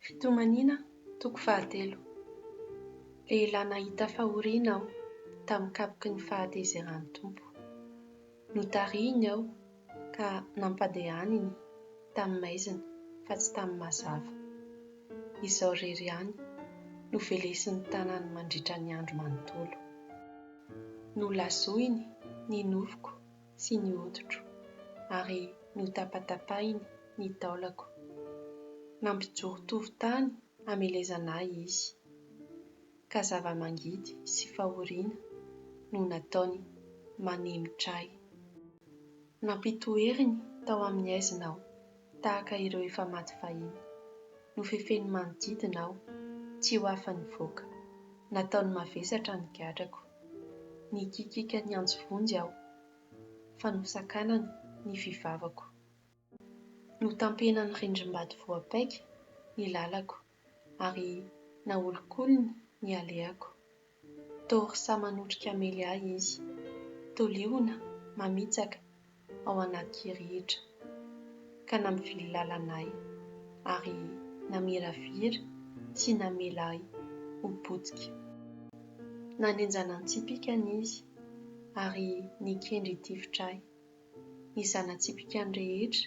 Fitomaniana toko fahatelo. Lehilahy nahita fahoriana aho tamin'ny kapoky ny fahatezeran'ny Tompo. Notarihiny aho ka nampandehaniny tamin'ny maizina fa tsy tamin'ny mazava. Izaho irery ihany no velesin'ny tanany mandritra ny andro manontolo. Nolazoiny ny nofoko. sy ny hoditro, ary notapatapahiny ny taolako. Nampijoro tovo tany hamelezana ahy izy, ka zava-mangidy sy fahoriana no nataony manemitra ahy. Nampitoeriny tao amin'ny haizina aho, Tahaka ireo efa maty fahiny. Nofefeny manodidina aho, tsy ho afa-nivoaka. Nataony mavesatra ny gadrako. Nikikiaka niantso vonjy aho, fa nosakanany ny fivavako. Notampenan'ny rindrim-bato voapaika ny lalako. ary naolikoliny ny alehako. Tory sa manotrika mely ahy izy, tolioina mamitsaka ao anaty kirihitra, ka nampivily lalana ahy, ary namiravira sy namela ahy ho potika. Nanenjana an-tsipìkany izy, ary nikendry hitifitra ahy. Ny zana-tsipìkany rehetra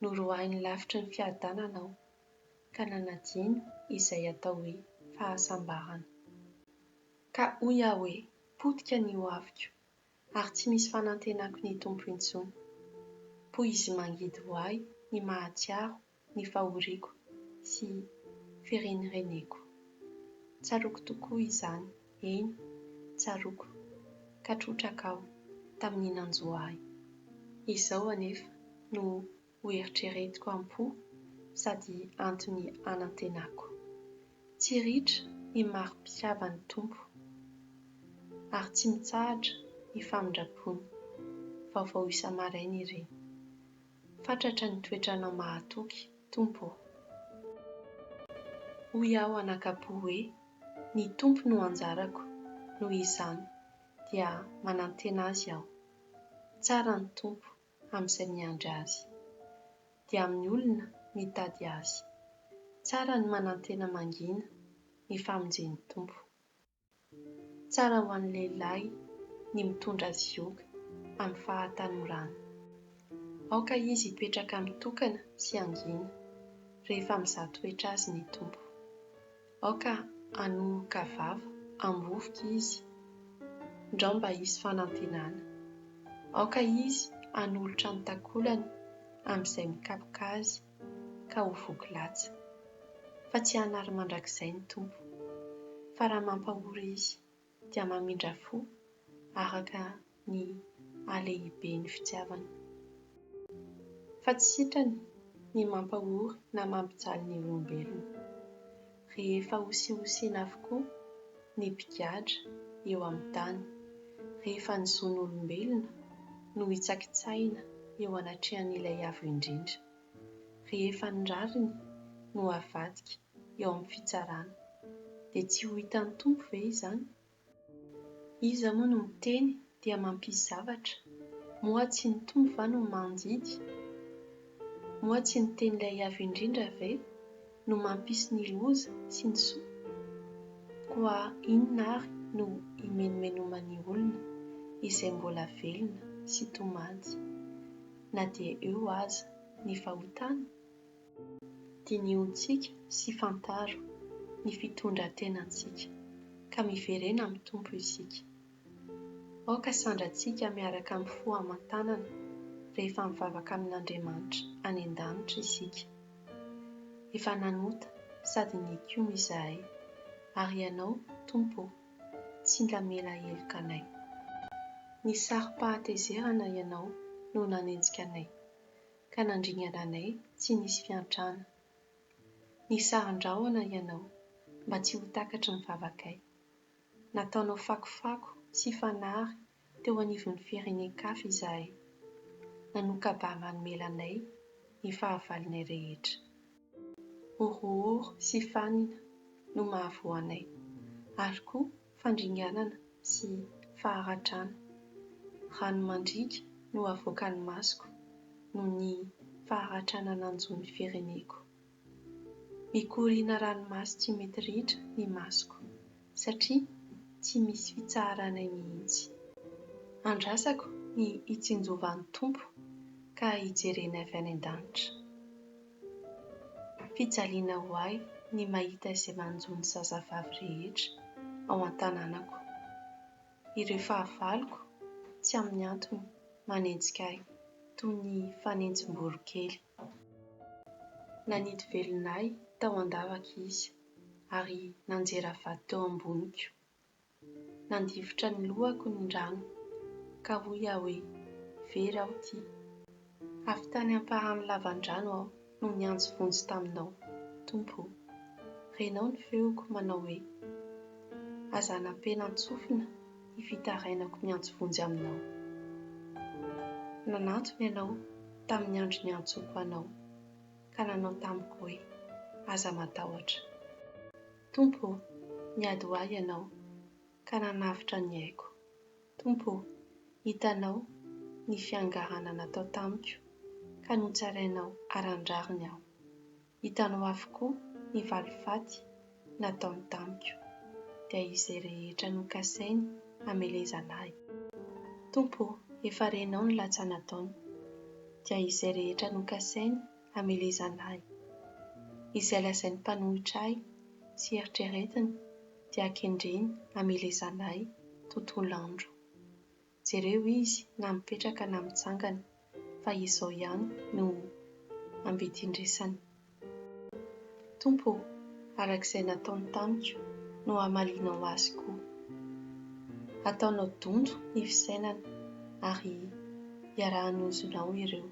Noroahiny lavitry ny fiadanana aho, ka nanadino izay atao hoe fahasambarana. Ka hoy aho hoe, Potika ny ho aviko, ary tsy misy fanantenako ny Tompo intsony. Poizy mangidy ho ahy ny mahatsiaro ny fahoriako sy firenireneko. Tsaroako tokoa izany. Eny, tsaroako, ka trotraka aho tamin'ny nanjo ahy. Izao anefa no hoeritreretiko am-po sady antony anantenako, Tsy ritra ny mari-pitiavan'ny Tompo, ary tsy mitsahatra ny famindram-pony. Vaovao isa-maraina ireny. Fatratra ny toetranao mahatoky, Tompo ô. Hoy aho anakapo hoe, Ny Tompo no anjarako, noho izany dia manantena Azy aho. Tsara ny Tompo amin'izay miandry Azy. Dia amin'ny olona mitady Azy. Tsara ny manantena mangina ny famonjen'ny Tompo. Tsara ho an'ny lehilahy ny mitondra zioga amin'ny fahatanorany. Aoka izy hipetraka mitokana sy hangina, rehefa mizaha toetra azy ny Tompo. Aoka hanohoka vava ambovoka izy, ndrao mba hisy fanantenana. Aoka izy hanolotra ny takolany amin'izay mikapoka azy ka ho voky latsa, fa tsy hanary mandrakizay ny Tompo, fa raha mampahory Izy dia mamindra fo araka ny halehiben'ny fitiavany. Fa tsy sitrany ny mampahory na mampijaly ny olombelona. rehefa hosihosina avokoa ny mpigadra eo amin'ny tany, rehefa ny zon'olombelona no hitsakitsahina eo anatrehan'Ilay Avo Indrindra, rehefa ny rariny no havadika eo amin'ny fitsarana, dia tsy ho hitan'ny Tompo ve izany Iza moa no miteny dia mampisy zavatra? Moa tsy ny Tompo va no mandidy? Moa tsy ny tenin'ilay Avo Indrindra ve no mampisy ny loza sy ny soa? Koa inona ary no himenomenoman'ny olona izay mbola velona sy tomany na dia eo aza ny fahotana? Dinihontsika sy fantaro ny fitondran-tenantsika, ka miverena amin'ny Tompo isika. Aoka sandrantsika miaraka amin'ny fo aman-tanana rehefa mivavaka amin'Andriamanitra any an-danitra isika. Efa nanota sady nikiona izahay, ary Ianao, Tompo ô, tsy mba mila heloka anay. Ny sarom-pahatezerana Ianao no nanenjika anay, ka nandringana anay tsy nisy fiantrana. Nisaron-drahona ianao mba tsy ho takatry ny vavakay. Nataonao fakofako sy fanary teo anivon'ny firenen-kafa izahay. Nanoka-ba manomela anay ny fahavalonay rehetra. Horohoro sy fanina no mahavoa anay, ary koa fandringanana sy faharatrana. Rano mandriaka no avoakan'ny masoko noho ny faharatrana nanjo ny fireneko. Mikoriana ranomaso tsy mety ritra ny masoko satria tsy misy fitsaharanay mihitsy. Andrasako ny hitsinjovan'ny Tompo ka hijereny avy any an-danitra. Fijaliana ho ahy ny mahita izay manjo ny zazavavy rehetra ao an-tanànako. Ireo fahavaloko tsy amin'ny antony manenjika ahy toy ny fanenjim-boronkely. Nanidy velona ahy tao an-davaka izy ary nanjera vato teo amboniko. Nandifotra ny lohako ny rano, ka hoy aho hoe, Very aho ity. Avy tany ampahan'ny lavan-drano aho no niantso vonjy taminao, Tompo o. Renao ny feoko manao hoe, Aza anapena an-tsofina ny fitarainako miantso vonjy aminao. Nanantona ianao tamin'ny andro niantsoako anao, ka nanao tamiko hoe, Aza matahotra. Tompo ô, niady ho ahy Ianao, ka nanavotra ny aiko. Tompo ô, hitanao ny fiangarana natao tamiko, ka notsarainao aran-drariny aho. Hitanao avokoa ny valifaty nataony tamiko, dia izay rehetra nokasainy hamelezana ahy. Tompo ô, efa renao ny latsana ataony, dia izay rehetra nokasainy hamelezana ahy. Izay lazain'ny mpanohitra ahy sy eritreretiny dia kendreny hamelezana ahy tontolo andro. Jereo izy na mipetraka na mitsangana fa izao ihany no ambidin-dresany. Tompo ô, araka izay nataony tamiko no hamalianao azy koa. Ataonao donto ny fisainana ary iaraha-hanozonao ireo.